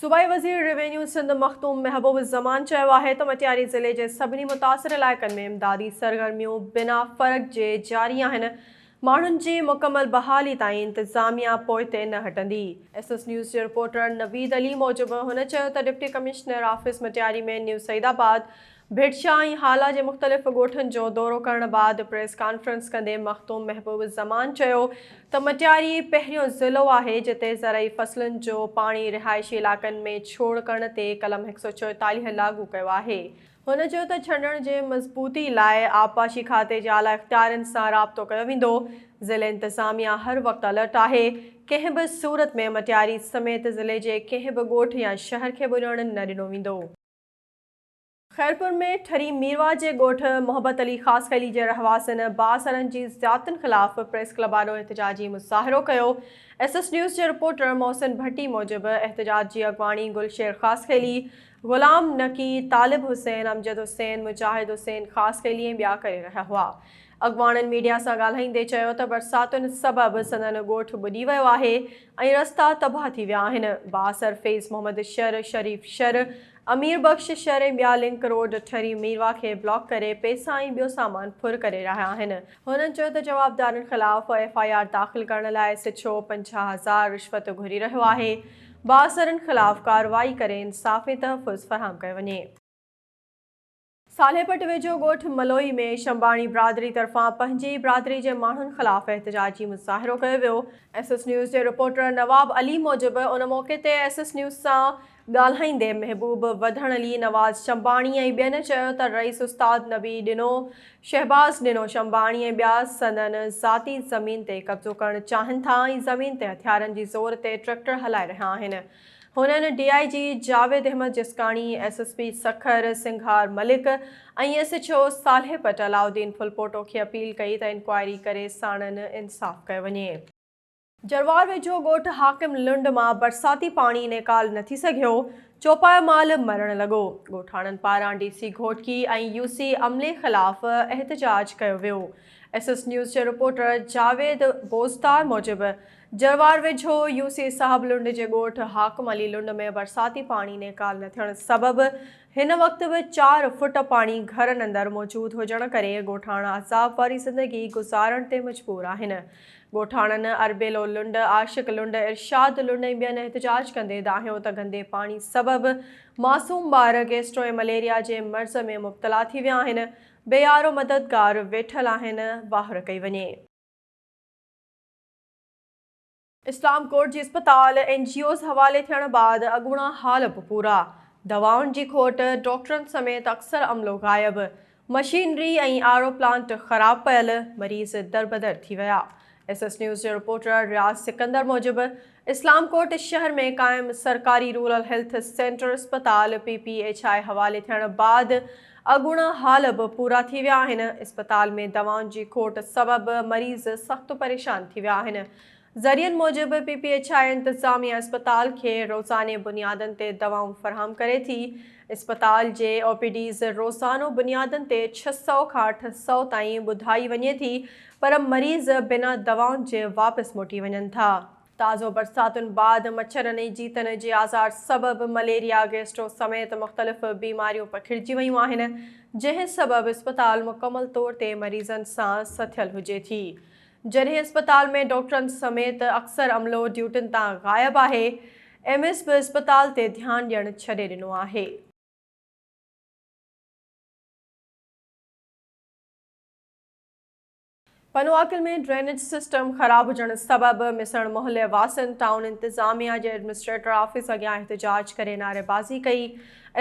صوبائي وزير روينيو سنڌ مخدوم محبوب الزمان چيو آهي ته مٽياري ضلعي جي سڀني متاثر علائقن ۾ امدادي سرگرميون بنا فرق جي جاري آهن، ماڻهن جي مڪمل بحالي تائين انتظاميا پوئتي نه هٽندي. ايس ايس نيوز جي رپورٽر نويد علي موجب هن چيو ته deputy commissioner office Matiari ۾ new Saeedabad, Bhitshah ۽ Hala جي مختلف ڳوٺن جو دورو ڪرڻ بعد پريس ڪانفرنس ڪندي مخدوم محبوب الزمان چيو ته مٽياري پهريون ضلعو آهي جتي زرعي فصلن جو پاڻي رهائشي علائقن ۾ ڇوڙ ڪرڻ تي قلم هڪ سؤ چوئيتاليهه لاڳو ڪيو آهي هن چيو ته ڇنڊڻ جي مضبوطي لاء آبپاشي کاتي جي اعليٰ اختيارين سان رابطو ڪيو ويندو، ضلعي انتظاميا هر وقت الرٽ آهي، ڪنهن به صورت ۾ مٽياري سميت ضلعي جي ڪنهن به ڳوٺ يا شهر کي ٻڏڻ نه ڏنو ويندو. خيرپور ۾ ٺري ميرواهه جي ڳوٺ محبت علي خاصخيلي جي رهواسين بااثرن جي زيادتين خلاف پريس ڪلب آڏو احتجاجي مظاهرو ڪيو، ايس ايس نيوز جي رپورٽر محسن ڀٽي موجب احتجاج جي اڳواڻي گل شير خاصخيلي، غلام نقي، طالب حسين، امجد حسين، مجاهد حسين خاص خيلي ۽ ٻيا ڪري رهيا هئا. اڳواڻن ميڊيا سان ڳالهائيندي چيو ته برساتن سبب سندن ڳوٺ ٻڏي ويو آهي ۽ رستا تباهه ٿي ويا آهن. بااثر فيض محمد شر، شريف شر، امير بخش شر ۽ ٻيا لنڪ روڊ ٺري ميرواھ کي بلاڪ ڪري پئسا ۽ ٻيو سامان ڦر ڪري رهيا آهن. هنن چيو ته جوابدارن خلاف ايف آء آر داخل ڪرڻ لاء سڇو پنجاهه هزار رشوت گهري رهيو آهي. بااثرن خلاف ڪارروائي ڪري انصافي تحفظ فراهم ڪيو وڃي. صالحپٽ ويجهو ڳوٺ ملوئي ۾ شنباڻي برادري طرفان پنهنجي ئي برادري جي ماڻهن خلاف احتجاجي مظاهرو ڪيو ويو، ايس ايس نيوز جي رپورٽر نواب علي موجب ان موقعي تي ايس ايس نيوز سان ڳالهائيندي محبوب وڌڻ علي نواز شنباڻي ۽ ٻين چيو ته رئيس استاد نبي ڏنو شهباز ڏنو شنباڻي ۽ ٻيا سندن ذاتي زمين تي قبضو ڪرڻ چاهن ٿا ۽ زمين تي هٿيارن جي زور تي ٽريڪٽر هلائي رهيا آهن هنن D I G Javed Ahmed Jaskani, S S P Sukkur Singhar Malik ۽ S H O Saleh پٽ علاؤالدين ڦلپوٽو کي اپيل ڪئي ته انڪوائري ڪري ساڻن انصاف ڪيو وڃي. جروار ويجهو ڳوٺ حاڪم لنڊ مان برساتي پاڻي نيڪال نه ٿي سگهيو، چوپايو مال مرڻ لڳو، ڳوٺاڻن پاران D C Ghotki ۽ U C عملي خلاف احتجاج ڪيو ويو. ايس ايس نيوز جي رپورٽر جاويد بوزدار موجب جروار ويجهو يو سي صاحب لنڊ جي ڳوٺ حاڪم علي لنڊ ۾ برساتي پاڻي نيڪال نه ٿيڻ سبب هن وقت به چار فٽ پاڻي گهرن اندر موجود هجڻ ڪري ڳوٺاڻا عذاب واري زندگي گذارڻ تي مجبور آهن ڳوٺاڻن، اربيلو لنڊ، عاشق لنڊ، ارشاد لنڊ ۽ ٻين احتجاج ڪندي دانهيو ته گندي پاڻي سبب معصوم ٻار گيسٽرو ۽ مليريا جي مرض ۾ مبتلا ٿي ويا آهن، بي يارو مددگار ويٺل آهن، واهر ڪئي وڃي. اسلام ڪوٽ جي اسپتال اين جي اوز حوالي ٿيڻ بعد اڳوڻا حال به پورا، دوائن جي کوٽ، ڊاڪٽرن سميت اڪثر عملو غائب، مشينري ۽ آر او پلانٽ خراب پيل، مريض دربدر ٿي ويا. ايس ايس نيوز جي رپورٽر رياض سڪندر موجب، اسلام ڪوٽ شهر ۾ قائم سرڪاري رورل هيلٿ سينٽر اسپتال پي پي ايڇ آء حوالي ٿيڻ بعد اڳوڻا حال به پورا ٿي ويا آهن، اسپتال ۾ دوائن جي کوٽ سبب مريض سخت پريشان ٿي ويا آهن. ذريعن موجب پي پي ايڇ آء انتظاميا اسپتال کي روزاني بنيادن تي دوائون فراهم ڪري ٿي، اسپتال جي او پي ڊيز روزانو بنيادن تي ڇهه سؤ کان اٺ سؤ تائين ٻڌائي وڃي ٿي پر مريض بنا دوائن جي واپس موٽي وڃن ٿا. تازو برساتن بعد مڇرن ۽ جيتن جي آزار سبب مليريا، گيسٽرو سميت مختلف بيماريون پکڙجي ويون آهن جنهن سبب اسپتال مڪمل طور تي مريضن سان سٿيل هجي ٿي. جڏهن اسپتال ۾ ڊاڪٽرن سميت اڪثر عملو ڊيوٽين تان غائب آهي، ايم ايس به اسپتال تي ڌيان ڏيڻ ڇڏي ڏنو آهي. پنواڪل ۾ ڊرينيج سسٽم خراب هجڻ سبب مسڻ محلي واسين ٽائون انتظاميا جي ايڊمنسٽريٽر آفيس اڳيان احتجاج ڪري نعريبازي ڪئي.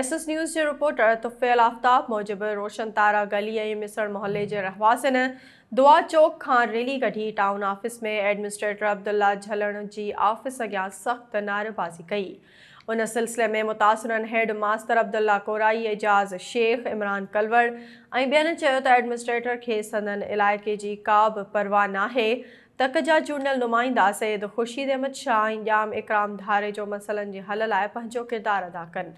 ايس ايس نيوز جي رپورٽر طفيل آفتاب موجب روشن تارا گلي ۽ مسڻ محلي جي رهواسين دعا چوڪ کان ريلي ڪڍي ٽائون آفيس ۾ ايڊمنسٽريٽر عبدالله جهلڻ جي آفيس اڳيان سخت نعريبازي ڪئي. ان سلسلي ۾ متاثرن هيڊ ماستر عبدالله ڪورائي، اعجاز شيخ، عمران ڪلوڙ ۽ ٻين چيو ته ايڊمنسٽريٽر کي سندن علائقي جي ڪا به پرواهه ناهي. تڪ جا چونڊيل نمائندا سيد خورشيد احمد شاهه ۽ ڄام اڪرام ڌاريجو مسئلن جي حل لاء پنهنجو ڪردار ادا ڪن.